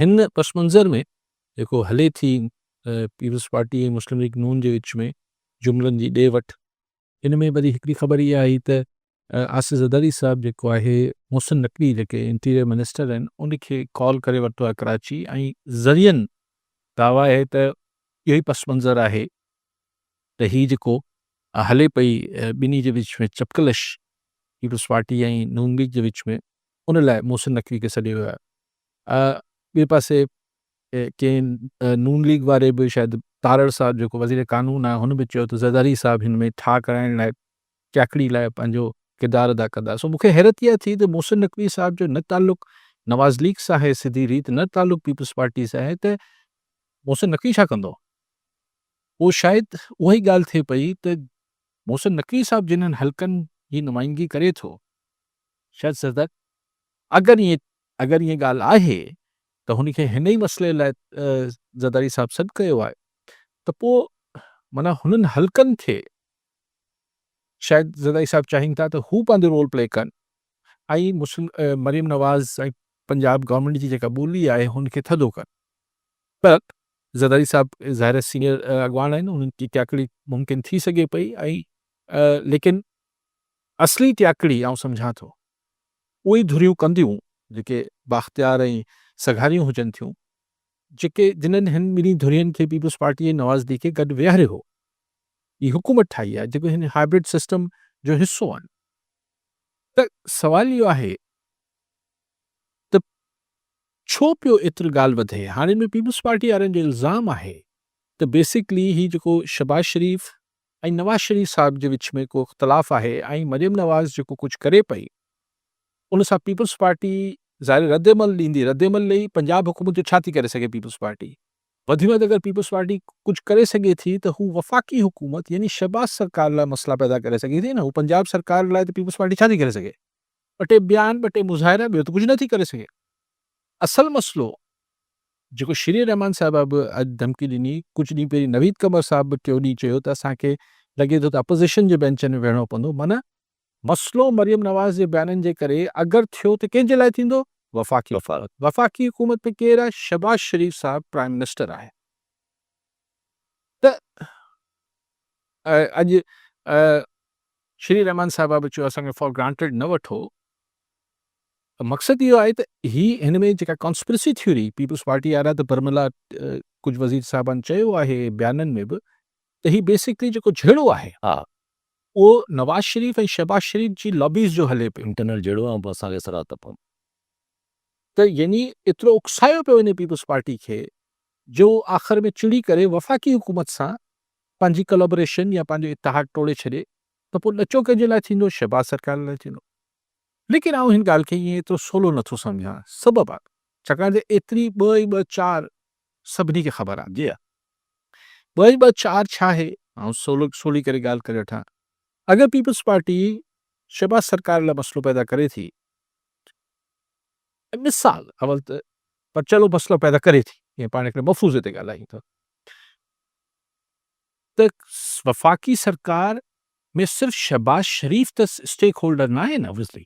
هن پس منظر ۾ جيڪو هلي ٿي پيپلز پارٽي ۽ مسلم ليگ نون جي وچ ۾ جملن جي ڏي وٺ، ان ۾ وري هڪڙي خبر اها آئي ته آصف زرداري صاحب جيڪو آهي محسن نقوي جيڪي انٽيريئر منسٽر آهن ان کي ڪال ڪري ورتو آهي ڪراچي ۽ ذريعن دعويٰ آهي ته اهو ئي پس منظر آهي ته هي جيڪو هلي پئي ٻنهي جي وچ ۾ چپڪلش پيپلز پارٽي ۽ نون ليگ جي وچ ۾ ان لاء محسن نقوي کي سڏيو ويو آهي. ٻئي پاسي ڪئين نون ليگ واري به شايد تارڙ صاحب جيڪو وزير قانون آهي هن به چيو ته زرداري صاحب هن ۾ ٺاهه ڪرائڻ لاء چاکڙي لاء پنهنجو ڪردار ادا ڪندا سو مون کي حيرت اها ٿي ته محسن نقوي صاحب جو نه تعلق نواز ليگ سان آهي سڌي ريت نه تعلق پيپلز پارٽي سان آهي ته محسن نقوي ڇا ڪندو؟ پوء شايد اها ئي ڳالهه ٿئي پئي ته محسن نقوي صاحب جنهن حلقن جي نمائندگي ڪري ٿو شاهد صدق، اگر ائين اگر ائين ڳالهه آهي ته هن کي هن ئي مسئلي لاء زرداري صاحب سڏ ڪيو آهي ته پوء معنيٰ هنن حلقن کي شايد زرداري صاحب چاهين ٿا ته هو پنهنجو رول پلي ڪن ۽ مسلم مريم نواز ۽ پنجاب گورنمينٽ جي جيڪا ٻولي آهي هن کي ٿڌو ڪن پر زرداري صاحب ظاهر سينئر اڳواڻ آهن انهن جي ڪياڪڙي ممڪن ٿي سگهي پئي ۽ ليڪن اصلي ٽياڪڙي آئون سمجهان ٿو اهي ئي ڌريون ڪنديون جيڪي بااختيار ۽ سگهاريون هجن ٿيون جيڪي جنهن هن ٻنهي ڌرين کي پيپلز پارٽي ۽ نوازليگ کي گڏ ويهاري هو هي حڪومت ٺاهي آهي جيڪي هن هائبرڊ سسٽم جو حصو آهن ته سوال اهو آهي ته ڇو پيو ايتري ڳالهه وڌي هاڻي ان ۾ پيپلز پارٽي وارن جو الزام آهي ته بيسڪلي هي جيڪو شهباز شريف ۽ نواز شريف صاحب جي وچ ۾ ڪو اختلاف آهي ۽ مريم نواز جيڪو ڪجهه ڪري پئي ان سان پيپلز پارٽي ظاهر رد عمل ڏيندي رد عمل ڏئي پنجاب حڪومت جو ڇا ٿي ڪري سگهي پيپلز پارٽي وڌ ۾ وڌ اگر پيپلز پارٽي ڪجهه ڪري سگهي ٿي ته هو وفاقي حڪومت يعني شهباز سرڪار لاء مسئلا پيدا ڪري سگهي ٿي نه هو پنجاب سرڪار لاء ته پيپلز پارٽي ڇا ٿي ڪري سگهي. ٻه ٽي بيان ٻه ٽي مظاهرا ٻيو ته ڪجهه نه ٿي ڪري سگهي اصل مسئلو جيڪو شيرين رحمان صاحبه به اڄ ڌمڪي ڏني ڪجهه ڏينهن پهرين نويد قمر صاحب به ٽيو ڏينهن چيو ته اسان کي لڳي ٿو ته اپوزيشن جي بينچن ۾ ويهڻو پوندو معنيٰ مسئلو مريم نواز جي بيانن جي ڪري اگر ٿيو ته ڪنهن جي لاء ٿيندو وفاقي حڪومت وفاقي حڪومت ۾ ڪير آهي شهباز شريف صاحب پرائيم منسٽر آهي ته اڄ شري رحمان صاحبه به چيو اسان کي فار گرانٽيڊ نه وٺو ته مقصد اهو آهي ته هي هن ۾ جيڪا ڪانسپرسي ٿيوري پيپلز پارٽي وارا ته برملا ڪجهه وزير صاحبان چيو آهي بيانن ۾ به ته هي بيسڪلي جيڪو جهيڙو آهي اهو نواز شريف ۽ شهباز شريف جي لابيز جو هلي پيو انٽرنل جهيڙو آهي اسان کي سرا ته پوندو ته يعني ايترو اڪسايو پيو وڃي پيپلز پارٽي کي جو آخر ۾ چڙي ڪري وفاقي حڪومت سان پنهنجي ڪلابريشن يا پنهنجو اتحاد ٽوڙي ڇڏي ته پوء ڏچو ڪنهن جي لاء ٿيندو؟ شهباز سرڪار لاء ٿيندو. ليڪن آئون هن ڳالهه کي ائين ايترو سولو نه ٿو سمجهان. سبب آ ڇاڪاڻ ته ايتري ٻه ۽ ٻه چار سڀني کي خبر آ. جي آ. ٻه ۽ ٻه چار ڇا آهي؟ آئون سولو سولي ڪري ڳالهه ڪري وٺان. اگر پيپلز پارٽي شهباز سرڪار لاء مسئلو پيدا ڪري ٿي. ۽ مثال اول ته پرچلو مسئلو پيدا ڪري ٿي، جيئن پاڻ هڪڙي مفروضي تي ڳالهايون ٿا ته وفاقي سرڪار ۾ صرف شهباز شريف ته اسٽيڪ هولڊر ناهي نه وزلي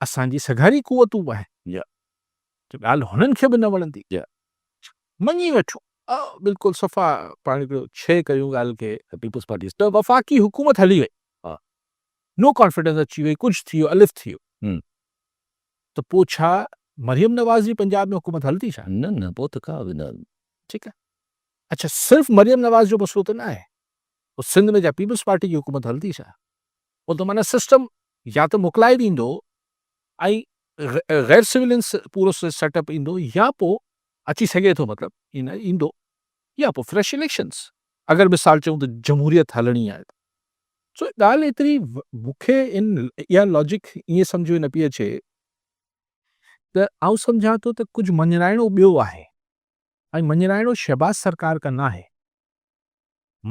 اسان جي سگهاري قوتون به آهن ته ڳالهه هنن کي به نه وڻندي مڃي وٺون بلڪل صفا پاڻ هڪڙو شيء ڪيون ڳالهه کي پيپلز پارٽي ته وفاقي حڪومت هلي وئي نو ڪانفيڊنس اچي وئي ڪجهه ٿي ويو الف ٿي ويو ته پوء ڇا مريم نواز جي پنجاب ۾ حڪومت هلندي ڇا؟ نه نه پوء ته ڪا به نه. ٺيڪ آهي اڇا صرف مريم نواز جو مسئلو ته نه آهي پوء سنڌ ۾ جا پيپلز پارٽي جي حڪومت هلندي ڇا؟ پوء ته معنيٰ سسٽم يا ته موڪلائي ڏيندو ۽ غير سولين پورو سيٽ اپ ايندو يا پوء اچي سگهي ٿو مطلب ايندو يا پوء فريش اليڪشنز اگر مثال چئون ته جمهوريت هلڻي آهي ته. سو ڳالهه ايتري مون کي ان اها لاجڪ ائين سمجهه ۾ نه پئي اچي ته آئون سمجهان ٿو ته ڪجهه مڃرائڻو ٻيو آهي ۽ مڃرائڻو شهباز سرڪار کان نه آهي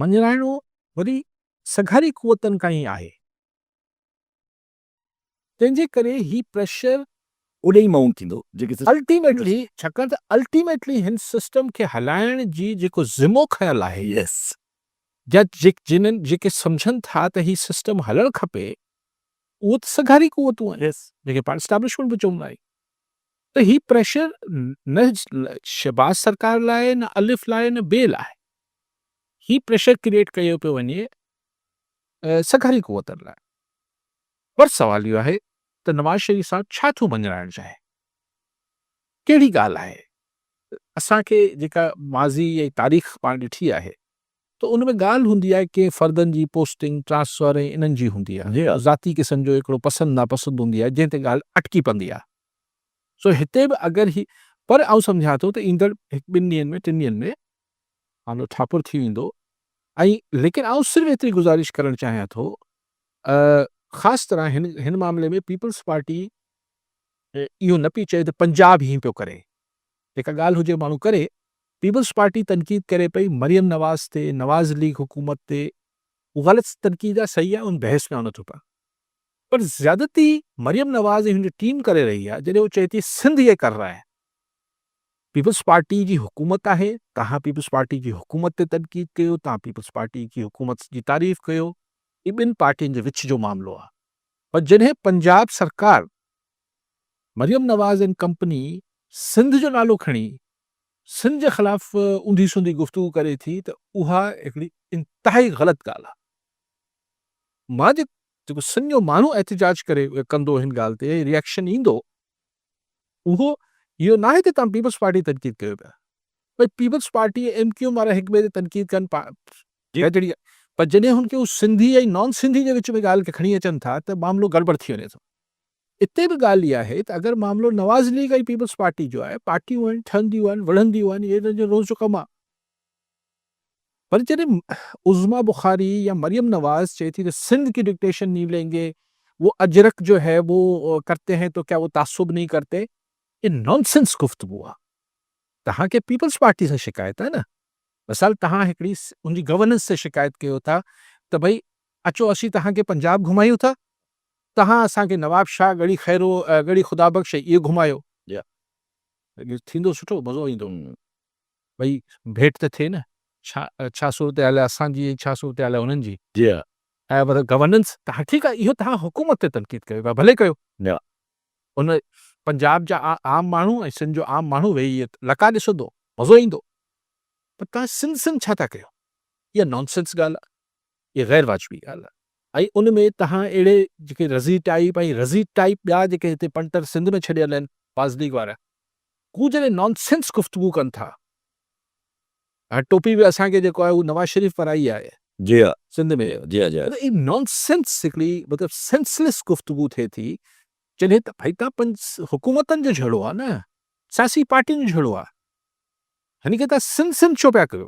مڃرائڻو وري سگهاري قوتن کان ئي آهي. تنهن جي ڪري هي پريشر اوڏي ئي مائونٽ ٿيندو جيڪي سسٽم الٽيميٽلي ڇاڪاڻ ته الٽيميٽلي هن سسٽم کي هلائڻ جي جيڪو ذمو کنيل آهي يس جا جنهن جيڪي سمجهن ٿا ته هي سسٽم هلڻ کپي اهو ته سگهاري قوتون آهن يس جنهن کي پاڻ اسٽابلشمينٽ به چوندا آهيون ته هي پريشر نه شهباز سرڪار لاء نه الف لاء نه ٻئي لاء هي پريشر ڪريئيٽ ڪيو پيو وڃي سگهاري قوتن لاء پر سوال اهو آهي ته نواز شريف صاحب ڇا ٿو مڃرائڻ چاهي؟ ڪهڙي ڳالهه آهي؟ اسان کي جيڪا ماضي ۽ تاريخ پاڻ ڏٺي آهي ته ان ۾ ڳالهه هوندي آهي ڪئين فردن جي پوسٽنگ، ٽرانسفر ۽ انهن جي هوندي آهي ذاتي قسم جو هڪڙو پسند ناپسند هوندي آهي جنهن تي ڳالهه اٽڪي پندي آهي سو هتي به اگر هي پر آئون سمجهان ٿو ته ايندڙ هڪ ٻن ڏينهن ۾ ٽن ڏينهن ۾ آنو ٺاپر ٿي ويندو ۽ ليڪن آئون صرف ايتري گذارش ڪرڻ چاهيان ٿو خاص طرح هن هن معاملي ۾ پيپلز پارٽي اهو نه پي چئي ته پنجاب هي پيو ڪري جيڪا ڳالهه هجي ماڻهو ڪري پيپلز پارٽي تنقيد ڪري پئي مريم نواز تي نواز ليگ حڪومت تي هو غلط تنقيد آهي صحيح آهي ان بحث ۾ آن نٿو پايان پر زيادتي مريم نواز ۽ هن جي ٽيم ڪري رهي آهي جڏهن هو چئي ٿي سنڌ هي ڪر رها آهن پيپلز پارٽي جي حڪومت آهي، توهان پيپلز پارٽي جي حڪومت تي تنقيد ڪيو، توهان پيپلز پارٽي جي حڪومت جي تعريف ڪيو، هي ٻن پارٽين جي وچ جو معاملو آهي، پر جڏهن پنجاب سرڪار مريم نواز اينڊ ڪمپني سنڌ جو نالو کڻي سنڌ جي خلاف اونڌي سونڌي گفتگو ڪري ٿي ته اها هڪڙي انتهائي غلط ڳالهه آهي، مان جيڪو سنڌ جو ماڻهو احتجاج ڪري ڪندو هن ڳالهه تي ريئڪشن ايندو، اهو اهو ناهي ته توهان پيپلز پارٽي جي تنقيد ڪريو پيا. ڀاء Peoples Party ۽ M Q M وارا هڪ ٻئي جي تنقيد ڪن پا جيڪا جهڙي آهي پر جڏهن هن کي سنڌي ۽ نان سنڌي جي وچ ۾ ڳالهه کي کڻي اچن ٿا ته معاملو گڙٻڙ ٿي وڃي ٿو. اتي به ڳالهه اها آهي ته اگر معاملو نواز ليگ ۽ پيپلز پارٽي جو آهي، پارٽيون آهن، ٺهنديون آهن، وڙهنديون آهن، اهو انهن جو روز جو ڪم آهي. پر جڏهن عظميٰ بخاري يا مريم نواز چئي ٿي ته سنڌ ڪي ڊڪٽيشن نهين لين گي، وو اجرڪ جو هي وو ڪرتي هين تو ڪيا وو تعصب نهين ڪرتي. هي نان سينس گفتگو آ. توهان کي پيپلز پارٽي سان شڪايت آ نه. مثال توهان هڪڙي ان جي گورننس تي شڪايت ڪيو ٿا ته ڀئي اچو اسين توهان کي پنجاب گهمايون ٿا، توهان اسان کي نواب شاهه، ڳڙهي خيرو، ڳڙهي خدا بخش ۽ اهي گهمايو. ٿيندو سٺو مزو ايندو. ٻئي ڀيٽ ته ٿئي نه. ڇا ڇا صورتحال آهي اسان جي ۽ ڇا صورتحال آهي انهن جي. جي ها. آهي مطلب گورننس ته ها ٺيڪ آهي اهو توهان حڪومت تي تنقيد ڪيو ٿا ڀلي ڪيو. نه. ان پنجاب جا عام ماڻهو ۽ سنڌ جو عام ماڻهو ويهي ائين لقا ڏسندو مزو ايندو پر توهان سنڌ سنڌ ڇا ٿا ڪيو اها نانسنس ڳالهه آهي. اهي غير واجبي ڳالهه آهي ۽ ان ۾ تهان اهڙي جيڪي رضي ٽائيپ ۽ رضي ٽائيپ ٻيا جيڪي هتي پنٽر سنڌ ۾ ڇڏيل آهن باز ليگ وارا هو جڏهن نان سينس گفتگو ڪن ٿا هاڻي ٽوپي به اسان کي جيڪو آهي اهو نواز شريف پرائي آهي جي ها سنڌ ۾ جي ها جي ها. مطلب اهي نان سينس هڪڙي مطلب سينس ليس گفتگو ٿئي ٿي جڏهن ته ڀئي تهان پنج حڪومتن جو جهيڙو آهي نه سياسي پارٽين جو جهيڙو آهي هن کي تهان سنڌ سنڌ ڇو پيا ڪيو.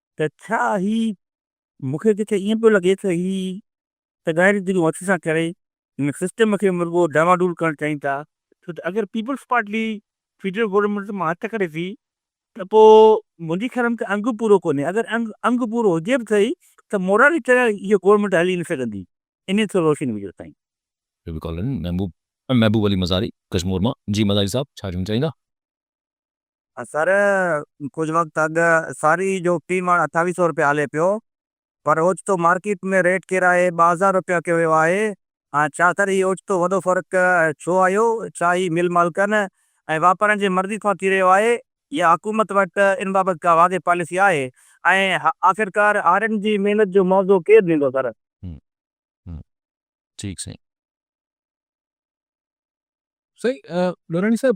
ته ڇا هي مون کي ته ائين پيو لڳي ته هي ته غير دلون هٿ سان ڪري هن سسٽم کي رڳو ڊانواڊول ڪرڻ چاهين ٿا ڇو ته اگر پيپلز پارٽي فيڊرل گورنمينٽ مان هٿ ڪڍي ٿي ته پوء منهنجي خيال ۾ ته انگ پورو ڪونهي اگر انگ انگ پورو هجي به ٿي ته مورالي طرح هيء گورنمينٽ هلي نه سگهندي انهيء تي روشني وجهو سائين. ويب ڪالن محبوب محبوب علي مزاري ڪشمور مان جي مزاري صاحب ڇا چوڻ چاهيندا. سر ڪجهه وقت اڳ ساري جو في مڻ اٺاويهه سئو رپيا هلي پيو پر اوچتو مارڪيٽ ۾ ريٽ ڪيرائي ٻه هزار رپيا ڪيو ويو آهي ۽ ڇا سر هي اوچتو وڏو فرق ڇو آيو ڇا هي مل مالڪن ۽ واپارين جي مرضي سان ٿي رهيو آهي يا حڪومت وٽ ان بابت ڪا واضح پاليسي آهي ۽ آخرڪار هارين جي محنت جو معاوضو ڪير ڏيندو سر. ٺيڪ سائين. سائين لوراڻي صاحب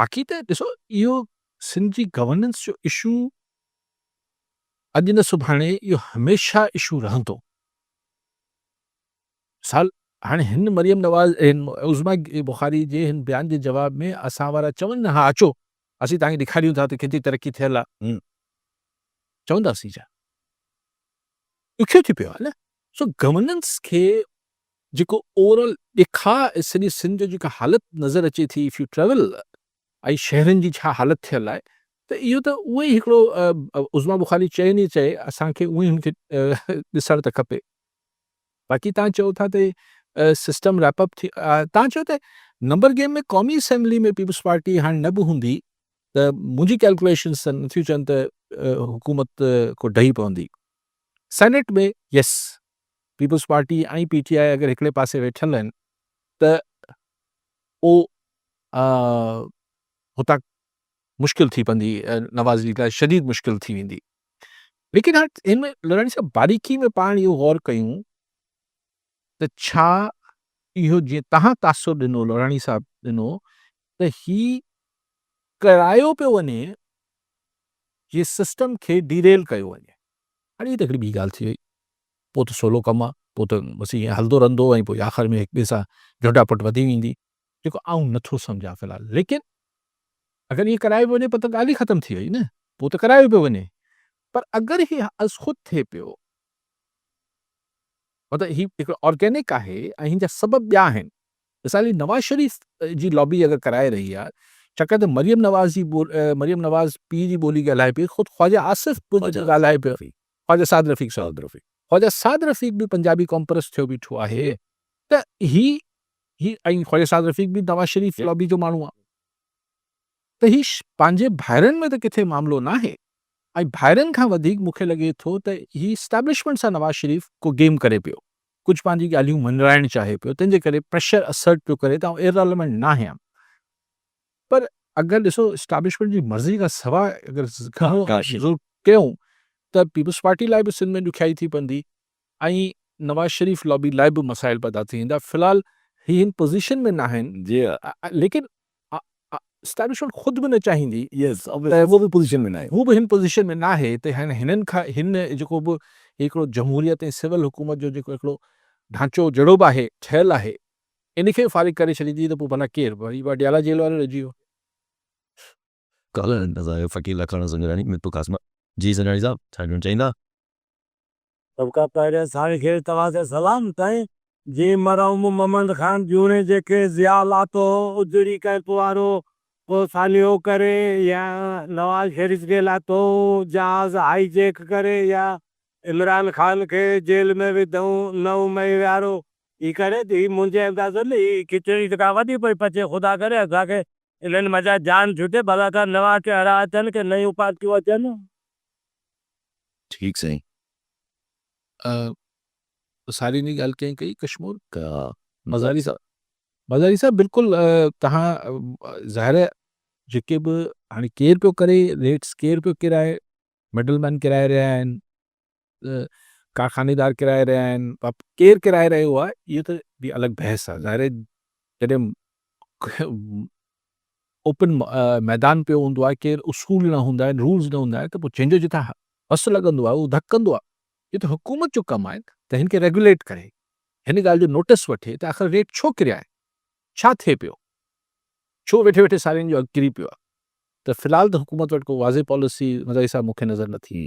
باقي ته ڏسو اهو سنڌ جي گورننس جو اشو اڄ نه سڀاڻي اهو هميشه اشو رهندو. مثال هاڻي هن مريم نواز عظميٰ بخاري جي هن بيان جي جواب ۾ اسان وارا چون نه ها اچو اسين توهان کي ڏيکاريون ٿا ته ڪيتري ترقي ٿيل آهي چونداسين ڇا ڏکيو ٿي پيو آهي نه سو گورننس کي جيڪو اورل ڏکاء ۽ سڄي سنڌ جو جيڪا حالت نظر اچي ٿي اف يو ٽريول ۽ شهرن جي ڇا حالت ٿيل آهي ته اهو ته اهو ئي هڪڙو عظميٰ بخاري چئي ني چئي اسان کي اهو ئي هن کي ڏسڻ ته کپي باقي تان چئو ٿا ته سسٽم ريپ اپ ٿي تان چئو ته نمبر گيم ۾ قومي اسيمبلي ۾ پيپلز پارٽي هاڻي نه به هوندي ته منهنجي ڪيلڪوليشنز ته نٿيون چون ته حڪومت ڪو ڊهي پوندي senate ۾ yes Peoples Party ۽ P T I اگر هڪڙي پاسي ويٺل آهن ته اهو هتان مشڪل ٿي پوندي نواز ليگ لاء شديد مشڪل ٿي ويندي ليڪن هاڻ ان ۾ لڙاڻي صاحب باريڪي ۾ پاڻ اهو غور ڪيون ته ڇا اهو جيئن تهان تاثر ڏنو لڙاڻي صاحب ڏنو ته هي ڪرايو پيو وڃي جي سسٽم کي ڊيريل ڪيو وڃي اڙي هي ته هڪڙي ٻي ڳالهه ٿي وئي. پوء ته سولو ڪم آ، پوء ته بس ائين هلندو رهندو ۽ پوء آخر ۾ هڪ ٻئي سان جهٽا پٽ وڌي ويندي. جيڪو آئون نه ٿو سمجهان في الحال. ليڪن اگر ائين ڪرايو پيو وڃي پوء ته ڳالهه ئي ختم ٿي وئي نه. پوء ته ڪرايو پيو وڃي. پر اگر هي ازخود ٿئي پيو. مطلب هي هڪڙو آرگينڪ آهي ۽ هن جا سبب ٻيا آهن. مثال جي نواز شريف جي لابي اگر ڪرائي رهي آ ڇاڪاڻ ته مريم نواز جي مريم نواز پيء جي ٻولي ڳالهائي پئي خود خواجه آصف به ڳالهائي پيو خواجه سعد رفيق سعد رفيق خواجه سعد رفيق به پنجابي ڪامپرس ٿيو بيٺو آهي ته هي هي ۽ خواجه سعد رفيق به نواز شريف لابي جو ماڻهو آ ته هي پنهنجي ڀائرن ۾ ته ڪٿي معاملو نه آهي ۽ ڀائرن کان وڌيڪ مونکي لڳي ٿو ته هي اسٽيبلشمنٽ سان نواز شريف ڪو گيم ڪري پيو ڪجهه پنهنجي ڳالهيون مڃرائڻ چاهي پيو تنهن جي ڪري پريشر اسرٽ پيو ڪري ته آئون ايرليونٽ ناهيان پر اگر ڏسو اسٽيبلشمينٽ جي مرضي کان سواء اگر ضرور ڪيون ته پيپلز پارٽي لاء به سنڌ ۾ ڏکيائي ٿي پوندي ۽ نواز شريف لابي لاء به مسائل پيدا ٿي ويندا في الحال هي هن پوزيشن ۾ ناهن ليڪن اسٽيبلشمينٽ خود به نه چاهيندي ته هو به پوزيشن ۾ ناهي هو به هن پوزيشن ۾ ناهي ته هن هنن کان هن جيڪو به هڪڙو جمهوريت ۽ سول حڪومت جو جيڪو هڪڙو ڍانچو جهڙو به آهي ٺهيل آهي ان کي فارغ ڪري ڇڏيندي ته پوء ڀلا ڪير وري واڊيالا جيل وارو رهجي ويو. ڪالهه نظائر فقير لکاڻو سنجراڻي ميرپور قاسم جي سنجراڻي صاحب ڇا چوڻ چاهيندا؟ سڀ کان پهرين سائين کي توهان کي سلام سائين جي مرحوم محمد خان جوڻي جيڪي ضياء لاتو هو اجڙي ڪئمپ وارو پوء سانحو ڪري يا نواز شريف کي لاتوئون جهاز هائي جيڪ ڪري يا عمران خان کي جيل ۾ وڌئون نو مئي وارو هي ڪري ته هي منهنجي اندازي ۾ هي کچڙي ته ڪا وڏي پئي پچي خدا ڪري اسان کي انهن منجهان جان ڇٽي ڀلا ڪا نوان چهرا اچن ڪي نيون پارٽيون اچن ٺيڪ سائين. سارين جي ڳالهه ڪئين ڪئي ڪشمور مزاري صاحب مزاري صاحب بلڪل توهان ظاهر جيڪي به هاڻي ڪير پيو ڪري ريٽس ڪير پيو ڪرائي مڊل مين ڪرائي رهيا آهن ڪارخانيدار ڪرائي رهيا آهن، ڪير ڪرائي رهيو آهي اهو ته به الڳ بحث آهي، ظاهر آهي جڏهن اوپن ميدان پيو هوندو آهي، ڪير اصول نه هوندا آهن، رولز نه هوندا آهن ته پوء جنهن جو جتان هس لڳندو آهي اهو ڌڪ ڪندو آهي، اهو ته حڪومت جو ڪم آهي ته هن کي ريگوليٽ ڪري، هن ڳالهه جو نوٽس وٺي ته آخر ريٽ ڇو ڪريا آهن، ڇا ٿئي پيو، ڇو ويٺي ويٺي سارين جو اگهه ڪري پيو آهي ته في الحال ته حڪومت وٽ ڪو واضح پاليسي مزاحي صاحب مون کي نظر نٿي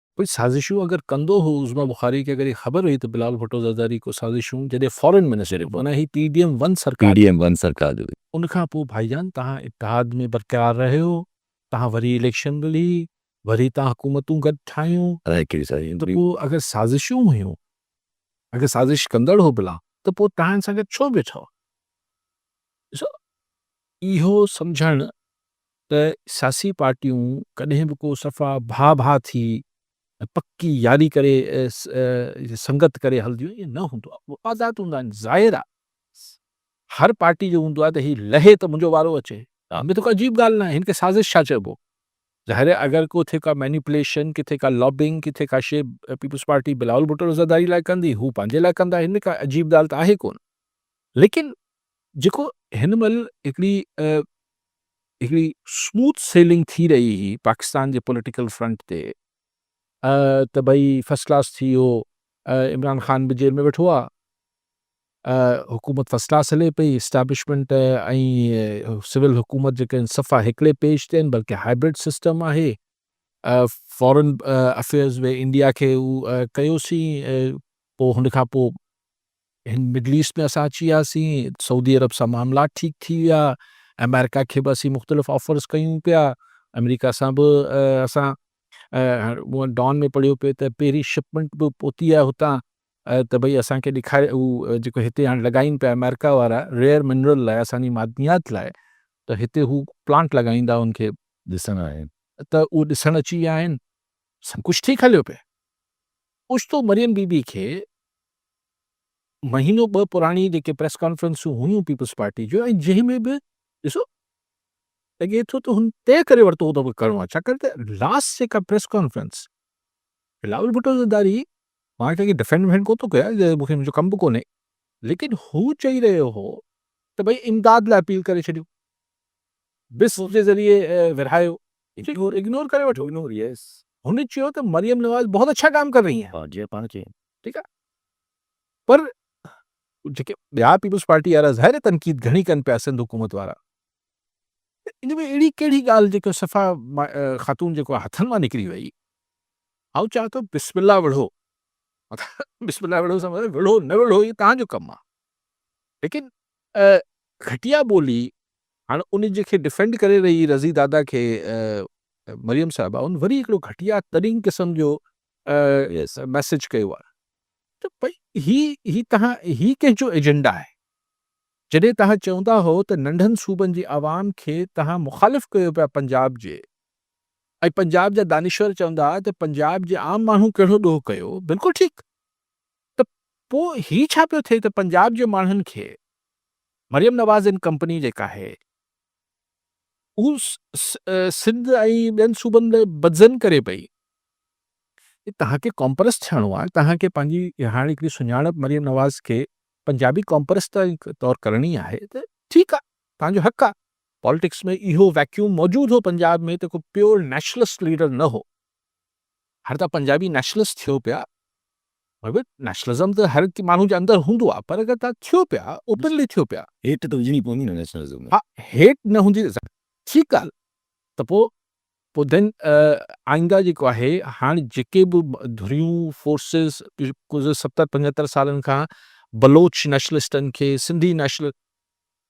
ڪجهه سازشون اگر ڪندو هو عظميٰ بخاري کي اگر هي خبر هئي ته بلال ڀٽو زرداري ڪو سازشون جڏهن فارين منسٽر هو معنيٰ هي پي ڊي ايم ون سرڪار پي ڊي ايم ون سرڪار جو هئي. ان کان پوء ڀائي جان توهان اتحاد ۾ برقرار رهيو توهان وري اليڪشن ملي وري توهان حڪومتون گڏ ٺاهيون ته پوء اگر سازشون هيون اگر سازش ڪندڙ هو بلا ته پوء توهان سان گڏ ڇو بيٺو ڏسو اهو سمجهڻ ته سياسي پارٽيون ڪڏهن به ڪو صفا ڀاء ڀاء ٿي ۽ پڪي ياري ڪري سنگت ڪري هلنديون ائين نه هوندو آهي مفادات هوندا آهن ظاهر آهي هر پارٽي جو هوندو آهي ته هي لهي ته منهنجو وارو اچي ان ۾ ته ڪا عجيب ڳالهه ناهي هن کي سازش ڇا چئبو ظاهر آهي اگر ڪٿي ڪا مينيپوليشن ڪٿي ڪا لابنگ ڪٿي ڪا شي پيپلز پارٽي بلاول ڀٽو عزاداري لاء ڪندي هو پنهنجي لاء ڪندا هن ۾ ڪا عجيب ڳالهه ته آهي ڪونه ليڪن جيڪو هن مهل هڪڙي هڪڙي سموٿ سيلنگ ٿي رهي هئي پاڪستان جي پوليٽيڪل فرنٽ تي ته ڀئي فرسٽ ڪلاس ٿي ويو عمران خان به جيل ۾ ويٺو آ حڪومت فرسٽ ڪلاس هلي پئي اسٽيبلشمنٽ ۽ سول حڪومت جيڪا آهن صفا هڪڙي پيج تي آهن بلڪه هائبرڊ سسٽم آهي فارن افيئرز وي انڊيا کي هو ڪيوسين پوء هن کان پوء هن مڊل ايسٽ ۾ اسان اچي وياسين، سعودي عرب سان معاملا ٺيڪ ٿي ويا، آمريڪا کي به اسين مختلف آفرز ڪيون پيا، آمريڪا سان به اسان مون ڊان ۾ پڙهيو پيو ته پهرين شپمنٽ به پهتي آهي هتان ته ڀئي اسان کي ڏيکاري هو جيڪو هتي هاڻي لڳائين پيا آمريڪا وارا ريئر منرل لاء اسان جي معدنيات لاء ته هتي هو پلانٽ لڳائيندا ان کي ڏسڻ آهن ته اهو ڏسڻ اچي ويا آهن سڀ ڪجهه ٺيڪ هليو پئي اوچتو مريم بي بي کي مهينو ٻه پراڻي جيڪي پريس ڪانفرنسون هيون پيپلز پارٽي جون ۽ جنهن ۾ به ڏسو لڳي ٿو ته هن طئي ڪري ورتو هو ته ڪرڻو آهي ڇاڪاڻ ته لاسٽ جيڪا پريس ڪانفرنس بلاول ڀٽو زرداري مان ڪنهن کي ڊفينڊ وفينڊ ڪو ٿو ڪيان جي مون کي منهنجو ڪم به ڪونهي ليڪن هو چئي رهيو هو ته ڀئي امداد لاء اپيل ڪري ڇڏيو بس جي ذريعي ورهايو اگنور ڪري وٺو اگنور يس هن چيو ته مريم نواز بہت اچھا ڪام ڪر رہي آهي جي پاڻ کي ٺيڪ آ پر جيڪي ٻيا پيپلز پارٽي وارا ظاهر تنقيد گهڻي ڪن پيا سنڌ حڪومت وارا ان ۾ اهڙي ڪهڙي ڳالهه جيڪو صفا خاتون جيڪو هٿن مان نڪري وئي آئون چاهيان ٿو بسم الله وڙهو بسم الله وڙهو سمجھ وڙهو نه وڙهو هي تان جو ڪم آ لیڪن گهٽيا ٻولي هاڻ ان جي کي ڊيفينڊ ڪري رهي رضي دادا کي مريم صاحبه ان وري هڪڙو گهٽيا ترين قسم جو ميسج ڪيو آهي ته ڀئي هي هي تهان هي ڪنهن جو ايجنڊا آهي جڏهن تهان چوندا هو ته ننڍن صوبن جي عوام کي تهان مخالف ڪيو پيا پنجاب جي ۽ پنجاب جا دانشور چوندا ها ته پنجاب جي عام ماڻهو ڪهڙو ڏوهه ڪيو بلڪل ٺيڪ ته پو هي ڇا پيو ٿئي ته پنجاب جي ماڻهن کي مريم نواز ان ڪمپني جيڪا آهي هو سنڌ ۽ ٻين صوبن لاء بدظن ڪري پئي. توهان کي قومپرست ٿيڻو آهي، توهان کي پنهنجي هاڻ هڪڙي سڃاڻپ مريم نواز کي پنجابي قومپرست طور ڪرڻي آهي ته ٺيڪ آهي، توهان جو حق آهي. پاليٽڪس ۾ اهو ويڪيوم موجود هو پنجاب ۾ ته ڪو پيور نيشنلسٽ ليڊر نه هو. هاڻي توهان پنجابي نيشنلسٽ ٿيو پيا مطلب نيشنلزم ته هر ماڻهو جي اندر هوندو آهي پر اگر توهان ٿيو پيا اوپنلي ٿيو پيا هيٽ ته هجڻي پوندي نه نيشنلزم ۾ ها هيٽ نه هوندي ٺيڪ آهي ته پوء پوء ڌن آئينده جيڪو آهي هاڻي جيڪي به ڌريون فورسز ڪجهه ستر پنجهتر سالن کان بلوچ نيشنلسٽن کي سنڌي نيشنل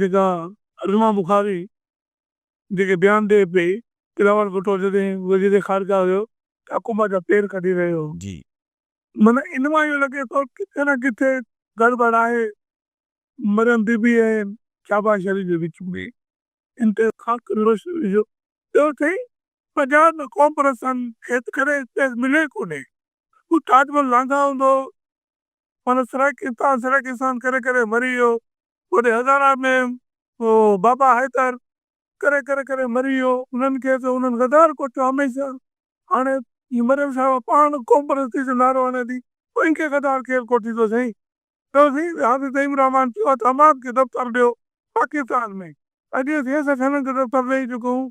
جيڪا علمه بخاري جيڪي بيان ڏئي پئي ته راول ڀٽو جڏهن وزير خارجه هيو ته حڪومت جا پير ڪڍي رهيو هو. جي. معنيٰ ان مان اهو لڳي ٿو ڪٿي نه ڪٿي گڙٻڙ آهي مريم بي بي ۽ شهباز شريف جي وچ ۾ ان تي خاص ڪري روشني وجهو. ٻيو سائين پنجاب ۾ قوم پرستن کي ته ڪڏهن اسپيس ملي ئي ڪونهي. هو تاج محل لانگاهه هوندو هو مانو سرڪ اتان سرڪ اسان ڪري ڪري مري ويو اوڏي هزارا ۾ او بابا حيدر ڪري ڪري ڪري مري ويو انهن کي ته انهن غدار ڪوٺيو هميشه هاڻي هي مريم صاحبه پاڻ قوم پرستي جو نعرو هڻي ٿي پوء ان کي غدار ڪير ڪوٺيندو سائين چئو سائين وي حافظ نعيم الرحمان چيو آ ته امان کي دفتر ڏيو پاڪستان ۾ اڄ اسين سکن کي دفتر ڏئي چڪا آهيون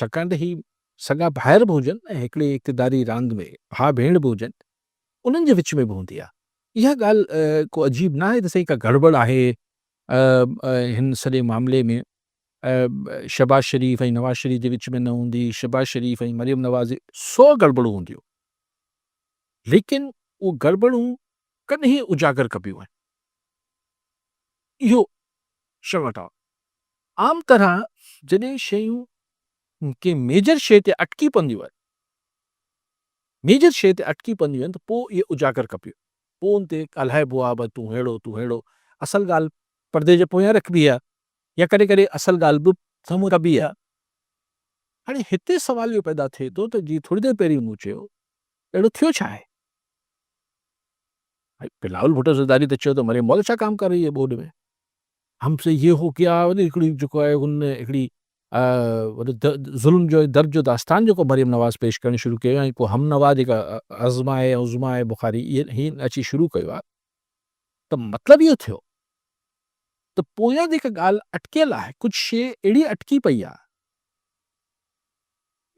ڇاڪاڻ ته هي سڳا ڀائر به هجن ۽ هڪڙي اقتداري راند ۾ ڀاء ڀيڻ به هجن انهن جي وچ ۾ به هوندي آهي. اها ڳالهه ڪو عجيب ناهي ته سائين ڪا گڙٻڙ آهي هن سڄي معاملي ۾ شهباز شريف ۽ نواز شريف جي وچ ۾ نه هوندي، شهباز شريف ۽ مريم نواز جي سو گڙٻڙون هونديون ليڪن اهي گڙٻڙون ڪڏهن اجاگر ڪبيون آهن اهو شرم اٽاو آهي. عام طرح جڏهن شيون ڪنهن ميجر شيء تي اٽڪي پونديون آهن Major شيء تي اٽڪي پونديون آهن ته پوء اهي اجاگر ڪبيون پوء ان تي ڳالهائبو آهي ڀاء تون ههڙو تون ههڙو اصل ڳالهه پردي جي پويان رکبي آهي يا ڪڏهن ڪڏهن اصل ڳالهه به سمهون ڪبي آهي هاڻي هتي سوال اهو پيدا ٿئي ٿو ته جيئن ٿوري دير پهرين مون چيو اهڙو ٿيو ڇا آهي بلاول ڀٽو زرداري ته چيو ته مريم مئل ڇا ڪام ڪر رهي هي ٻوڏ ۾ هم سي يي هو ڪيا وري هڪڙي جيڪو آهي ان هڪڙي ظلم جو درد جو داستان جيڪو مريم نواز پيش ڪرڻ شروع ڪيو ۽ پوء هم نوا جيڪا عظمه هي عظمه هي بخاري هي اچي شروع ڪيو آهي ته مطلب اهو ٿيو ته پويان جيڪا ڳالهه اٽڪيل آهي ڪجهه شي اهڙي اٽڪي پئي آهي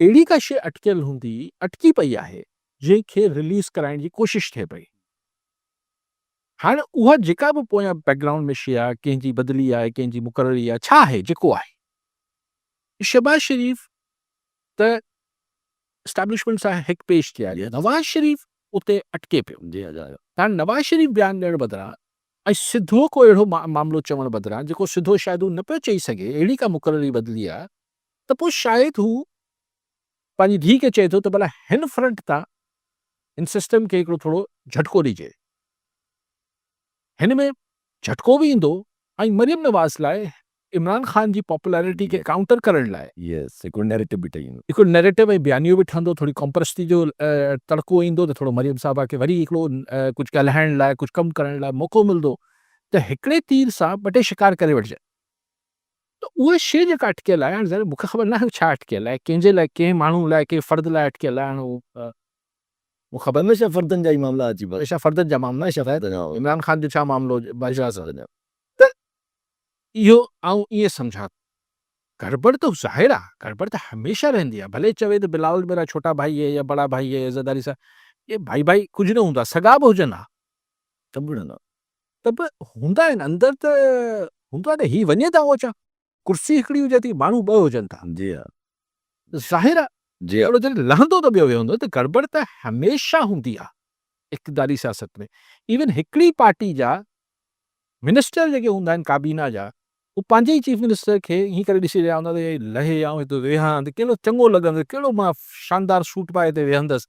اهڙي ڪا شي اٽڪيل هوندي اٽڪي پئي آهي جنهن کي رليز ڪرائڻ جي ڪوشش ٿئي پئي هاڻي اها جيڪا به پويان بيڪ گرائونڊ ۾ شيء آهي، ڪنهن جي بدلي آهي، ڪنهن جي مقرري آهي، ڇا آهي، جيڪو آهي، شهباز شريف ته اسٽيبلشمينٽ سان هڪ پيج تي آهي، نواز شريف اتي اٽڪي پيو. هاڻي نواز شريف بيان ڏيڻ بدران ۽ سڌو ڪو اهڙو معاملو چوڻ بدران جيڪو سڌو شايد هو نه پيو چئي سگهي، اهڙي ڪا مقرري بدلي آهي ته پوء شايد هو، پنهنجي ڌيء کي چئي ٿو ته ڀلا هن فرنٽ تان هن سسٽم کي هڪڙو ٿورو جهٽڪو ڏجي. هن ۾ جهٽڪو به ايندو ۽ مريم نواز لاء عمران خان جي پاپولرٽي کي ڪائونٽر ڪرڻ لاء. يس هڪڙو نيريٽو به ٺهي ويندو. هڪڙو نيريٽو ۽ بيانيو به ٺهندو، ٿوري قومپرستي جو تڙڪو ايندو ته ٿورو مريم صاحبه کي وري هڪڙو ڪجهه ڳالهائڻ لاء ڪجهه ڪم ڪرڻ لاء موقعو ملندو ته هڪڙي تير سان ٻه ٽي شڪار ڪري وٺجن. ته اهو شيء جيڪا اٽڪيل آهي، هاڻي ظاهر مون کي خبر ناهي هو ڇا اٽڪيل آهي، ڪنهن جي لاء، ڪنهن ماڻهو لاء، ڪنهن فرد لاء اٽڪيل آهي، هاڻي هو. مون کي خبر ناهي ڇا فردن جا ئي معاملا اچي پوي. هميشه فردن جا معاملا آهن شايد. عمران خان جو ڇا معاملو هجي باجوا سان. ته اهو آئون ائين سمجهان ٿو. گڙٻڙ ته ظاهر آهي، گڙٻڙ ته هميشه رهندي آهي، ڀلي چوي ته بلاول ميرا ڇوٽا ڀائي هي يا بڙا ڀائي هي، عزت داري سان، اهي ڀائي ڀائي ڪجهه نه هوندا، سڳا به هجن ها. سڀ هوندا. ته به هوندا آهن اندر ته هوندو آهي ته هي وڃي ته اوچا ڪرسي هڪڙي هجي ٿي ماڻهو ٻه هجن ٿا جي ها ته ظاهر آهي جي هڪڙو جڏهن لهندو ته ٻيو ويهندو ته گڙٻڙ ته هميشه هوندي آهي اقتداري سياست ۾ ايون هڪڙي پارٽي جا منسٽر جيڪي هوندا آهن ڪابينا جا هو پنهنجي ئي چيف منسٽر کي ائين ڪري ڏسي رهيا هوندا ته هي لهي آئون هتي ويهان ته ڪهڙو چڱو لڳندس ڪهڙو مان شاندار سوٽ پائي هتي ويهندس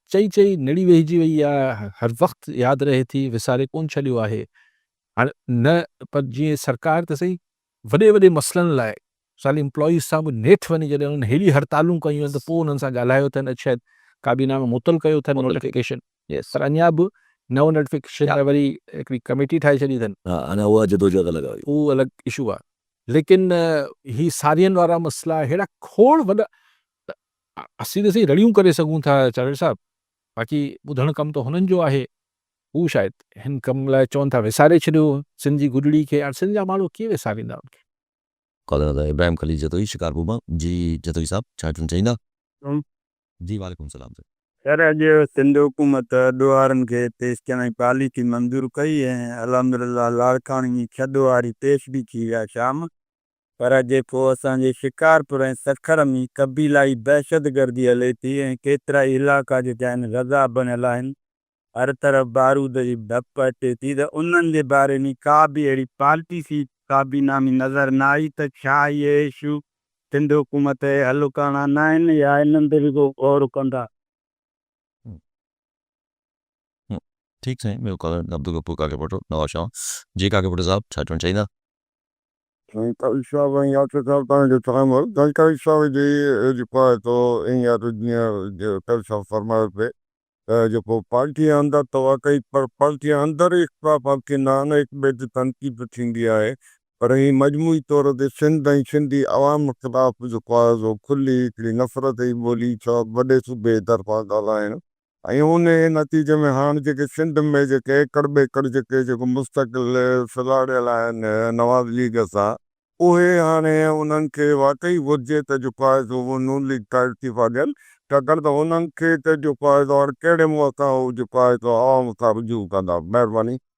چئي چئي نڙي ويهجي وئي آ، هر وقت ياد رهي ٿي، وساري ڪونه ڇڏيو آهي. هاڻ نه پر جيئن سرڪار ته سهي، وڏي وڏي مسئلن لاء مثال امپلائيز سان به نيٺ وڃي جڏهن انهن هيڏي هڙتالون ڪيون آهن ته پوء انهن سان ڳالهايو اٿن اڄ شايد ڪابينا ۾ معطل ڪيو اٿن نوٽيفڪيشن پر اڃا به نئون نوٽيفڪيشن لاء وري هڪڙي ڪميٽي ٺاهي ڇڏي اٿن. ها اڃا اها جدوجهد الڳ آ. اهو الڳ اشو آ ليڪن هي سارين وارا مسئلا هيڙا کوڙ وڏا اسين ته سائين رڙيون ڪري سگهون ٿا چاڙهيل صاحب، باقي ٻڌڻ ڪم ته هنن جو آهي. هو شايد هن ڪم لاء چون ٿا وساري ڇڏيو سنڌ جي گڏڙي کي. هاڻ سنڌ جا ماڻهو ڪيئن وساريندا ان کي. ڪالر ادا ابراهيم خليل جتوئي شڪارپور مان. جي جتوئي صاحب ڇا چوڻ چاهيندا. ڪم. جي وعليڪم سلام سائين. خير اڄ سنڌ حڪومت ڏوهارن کي پيش ڪرڻ جي پاليسي منظور ڪئي ۽ الحمدلله لاڙڪاڻي ۾ ڇهه ڏوهاري پيش به ٿي ويا شام پر جيڪو اسان جي شڪارپور ۽ سکر ۾ قبيلائي دهشتگردي هلي ٿي ۽ ڪيترائي علائقا جيڪي آهن غزا بڻيل آهن، هر طرف بارود جي ڌپ اچي ٿي ته انهن جي باري ۾ ڪا به اهڙي پاليسي ڪابينا ۾ نظر نه آئي ته ڇا اهي ايشو سنڌ حڪومت اهي حل ڪرڻا نه آهن يا انهن تي به ڪو غور ڪندا. ٺيڪ سائين ٻيو ڪالر عبدالغفور ڪاڪي ڀٽو نوابشاهه جي ڪاڪي ڀٽو صاحب ڇا چوڻ چاهيندا. سائين قاضي صاحب ۽ ياسر صاحب توهان جو سلام هو سائين قاضي صاحب جي جيڪو آهي سو ائين آهي سو جيئن قاضي صاحب فرمايو پئي ته جيڪو پارٽي جي اندر ته واقعي پر پارٽي جي اندر ئي اختلاف حل ٿيندا آهن هڪ ٻئي تي تنقيد به ٿيندي آهي پر ائين مجموعي طور تي سنڌ ۽ سنڌي عوام خلاف جيڪو آهي سو کلي هڪڙي نفرت جي ٻولي سبب وڏي صوبي جي طرفان ڳالهائڻ ۽ انهيء نتيجي ۾ هاڻ جيڪي سنڌ ۾ جيڪي ايڪڙ ٻيڪڙ جيڪي جيڪو مستقل سلهاڙيل آهن نواز ليگ سان اهي هاڻي انهن کي واقعي گهرجي ته جيڪو آهي سو اهو نون ليگ کان استعيفا ڏين ڇاڪاڻ ته انهن کي ته جيڪو آهي سو هاڻ ڪهڙي منهن سان هو جيڪو آهي سو عوام سان رجوع ڪندا. مهرباني.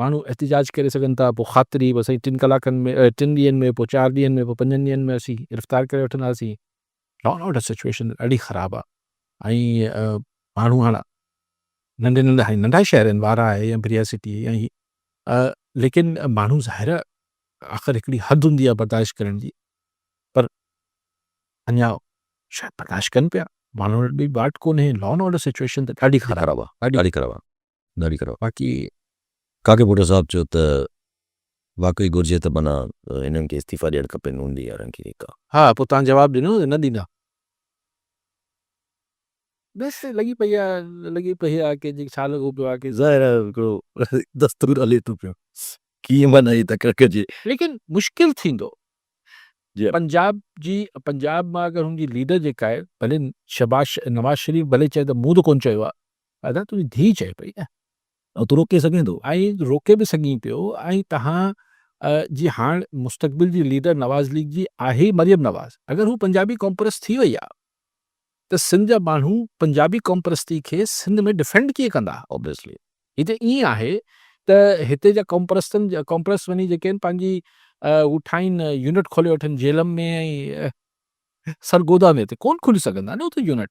ماڻهو احتجاج ڪري سگهن ٿا پوء خاطري به سائين ٽن ڪلاڪن ۾ ٽن ڏينهن ۾ پوء چار ڏينهن ۾ پوء پنجن ڏينهن ۾ اسين گرفتار ڪري وٺنداسين. لا اينڊ آرڊر سچوئيشن ڏاڍي خراب آ ۽ ماڻهو هاڻ ننڍي ننڍا هي ننڍا شهر آهن وارا آهي يا بريا سٽي يا هي ليڪن ماڻهو ظاهر آخر هڪڙي حد هوندي آ برداشت ڪرڻ جي پر اڃا شايد برداشت ڪن پيا ماڻهن وٽ ٻي واٽ ڪونهي لا اينڊ آرڊر سچوئيشن ته ڏاڍي خراب آ ڏاڍي خراب آ. ڏاڍي خراب باقي ڪاڪي ڀٽو صاحب چيو ته واقعي گهرجي ته معنيٰ هنن کي استعيفا ڏيڻ کپي نون ليگ وارن کي جيڪا. ها پوء توهان جواب ڏنو نه ڏيندا. بس لڳي پئي آ لڳي پئي آ ڪي جي ڇا لڳو پيو آ ڪي. ظاهر آ هڪڙو دستور هلي ٿو پيو ڪيئن معنيٰ هي تڪڙ ڪجي. ليڪن مشڪل ٿيندو پنجاب جي پنجاب مان اگر هن جي ليڊر جيڪا آهي ڀلي شهباز نواز شريف ڀلي چئي ته مون ته ڪون چيو آ. ادا تنهنجي ڌيء چئي پئي نه. ۽ تون روڪي سگهين ٿو. ۽ روڪي به سگهين پيو ۽ توهان جي هاڻ مستقبل جي ليڊر نواز ليگ جي آهي مريم نواز اگر هو پنجابي قوم پرست ٿي وئي آهي ته سنڌ جا ماڻهو پنجابي قوم پرستي کي سنڌ ۾ ڊفينڊ ڪيئن ڪندا اوبيسلي هي ته ائين آهي ته هتي جا قوم پرستن قوم پرست وڃي جيڪي آهن پنهنجي هو ٺاهين يونٽ کولي وٺن جيلم ۾ ۽ سرگودا ۾ ته ڪون کولي سگهندا نه اتي يونٽ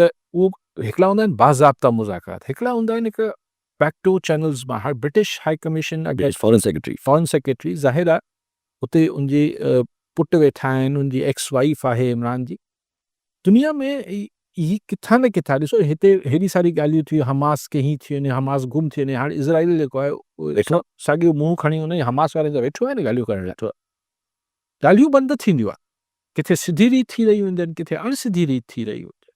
ته اهو هڪڙا هوندا آهن باضابطا مذاڪرات هڪڙا هوندا آهن هڪ پيڪٽو چينلز مان هاڻ British high commission against foreign secretary foreign secretary ظاهر آهي اتي ان جي پٽ ويٺا آهن ان جي ايڪس وائيف آهي عمران جي دنيا ۾ هي ڪٿان نه ڪٿان ڏسو هتي هيڏي ساري ڳالهيون ٿيون حماس کي هي ٿي وڃي حماس گم ٿي وڃي هاڻ اسرائيل جيڪو آهي ساڳيو منهن کڻي ان حماس وارن جا ويٺو آهي نه ڳالهيون ڪرڻ لاء ڳالهيون بند ٿينديون آهن، ڪٿي سڌي ريت ٿي رهيون هونديون آهن، ڪٿي اڻ سڌي ريت ٿي رهيون هونديون آهن.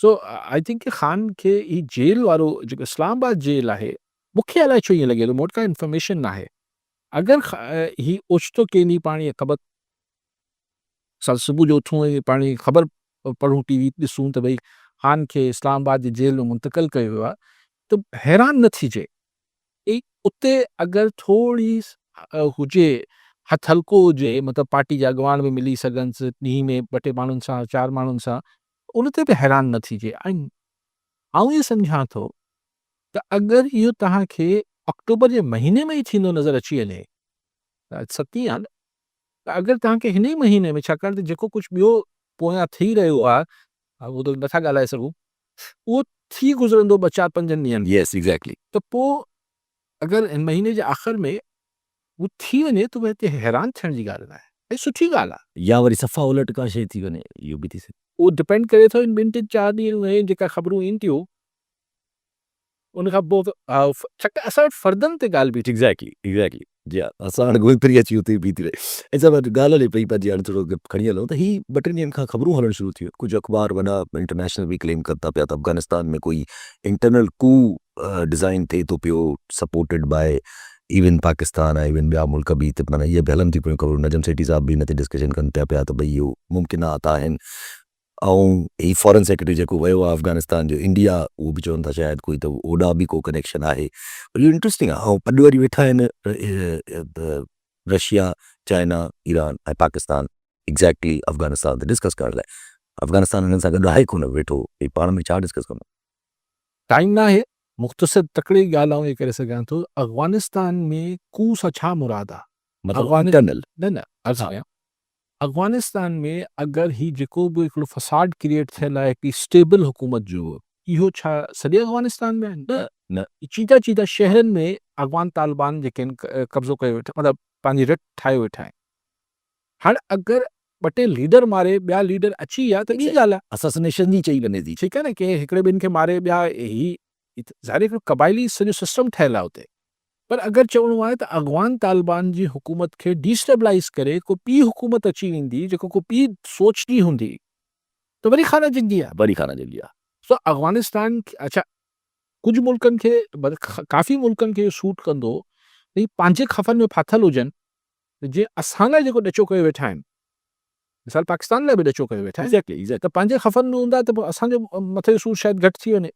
سو آء ٿنڪ ڪي خان کي هي جيل وارو جيڪو اسلام آباد جيل آهي، مون کي الائي ڇو ائين لڳي ٿو، مون وٽ ڪا انفارميشن ناهي، اگر هي اوچتو ڪين هي پاڻ هي خبر سال صبح جو اٿون ۽ پاڻ هي خبر پڙهون ٽي وي ڏسون ته ڀئي خان کي اسلام آباد جي جيل ۾ منتقل ڪيو ويو آهي ته حيران نه ٿيجي. ڪئي اتي اگر ٿورڙي هجي هٿ هلڪو هجي مطلب پارٽي جا اڳواڻ به ملي سگهنس ڏينهن ۾ ٻه ٽي ماڻهن سان چار ماڻهن سان ته ان تي به حيران نه ٿيجي ۽ آئون ائين سمجهان ٿو ته اگر اهو توهان کي آڪٽوبر جي مهيني ۾ ئي ٿيندو نظر اچي وڃي ته ستين آهي نه ته اگر توهان کي هن ئي مهيني ۾ ڇاڪاڻ ته جيڪو ڪجهه ٻيو پويان ٿي رهيو آهي اهو ته نٿا ڳالهائي سگهون اهو ٿي گذرندو ٻه چار پنجن ڏينهن ۾ ته پوء اگر هن مهيني جي آخر ۾ اهو ٿي وڃي ته هتي حيران ٿيڻ جي ڳالهه ناهي ۽ سٺي ڳالهه آهي. يا وري صفا الٽ ڪا شيء ٿي وڃي اهو به ٿي سگهي. اهو ڊپينڊ ڪري ٿو هن ٻن ٽن چار ڏينهن ۾ جيڪا خبرون اينديون ان کان پوء ڇڪ اسان وٽ فردن تي ڳالهه بيٺي. ايگزيڪٽلي ايگزيڪٽلي جي ها اسان هاڻي گهمي ڦري اچي اتي ئي بيهي ٿي رهي ۽ سڀ هتي ڳالهه هلي پئي پر جي هاڻي ٿورو اڳ کڻي هلون ته هي ٻه ٽن ڏينهن کان خبرون هلڻ شروع ٿيون ڪجهه اخبار وڏا انٽرنيشنل به ڪليم ڪن ٿا پيا ته افغانستان ۾ ڪوئي انٽرنل ڪو ڊزائن ٿئي ٿو پيو سپورٽيڊ باء ايون پاڪستان ۽ ايون ٻيا ملڪ به ته معنيٰ اهي به هلن ٿيون پيون خبرون نجم سيٺي صاحب به ان تي ڊسڪشن ڪن ٿا پيا ته ڀئي اهو ممڪنات آهن ۽ هي فارن سيڪريٽري جيڪو ويو آهي افغانستان جو انڊيا اهو به چون ٿا شايد ڪوئي ته اوڏانهن به ڪو ڪنيڪشن آهي پر اهو انٽرسٽنگ آهي ۽ پڏ وري ويٺا آهن Russia, China, Iran ۽ Pakistan exactly Afghanistan تي ڊسڪس ڪرڻ لاء افغانستان هنن سان گڏ آهي ڪونه ويٺو هي پاڻ ۾ ڇا ڊسڪس ڪندو. ٽائيم ناهي مختصر تڪڙي ڳالهه آئون اهي ڪري سگهان ٿو افغانستان ۾ ڪوء سان ڇا مراد آهي مطلب انٽرنل. نه نه عرض ڪيان افغانستان ۾ اگر هي جيڪو به هڪڙو فساد ڪريئيٽ ٿيل آهي هڪڙي اسٽيبل حڪومت جو اهو ڇا سڄي افغانستان ۾ آهي؟ نه نه چيده چيده شهرن ۾ افغان طالبان جيڪي آهن قبضو ڪيو ويٺا مطلب پنهنجي رٽ ٺاهي ويٺا آهن هاڻ اگر ٻه ٽي ليڊر ماري ٻيا ليڊر اچي ويا ته ٻي ڳالهه آهي. اسسنيشن جي چئي وڃي ٿي ٺيڪ آهي نه ڪنهن هڪڙي ٻن کي ماري ٻيا هي ظاهر هڪڙو قبائلي سڄو سسٽم ٺهيل آهي اتي پر اگر چوڻو آهي ته اغوان طالبان جي حڪومت کي ڊي اسٽيبلائيز ڪري ڪو ٻي حڪومت اچي ويندي جيڪا ڪو ٻي سوچ جي هوندي ته وري خانه جنگي آهي. وري خانه جنگي آهي. سو اغوانستان اڇا ڪجهه ملڪن کي ڪافي ملڪن کي اهو سوٽ ڪندو ته هي پنهنجي خفن ۾ ڦاٿل هجن ته جيئن اسان لاء جيڪو ڏچو ڪيو ويٺا آهن مثال پاڪستان لاء به ڏچو ڪيو ويٺا آهن ته پنهنجي خفن ۾ هوندا ته پوء اسان جو مٿي جو سور شايد گهٽ ٿي وڃي.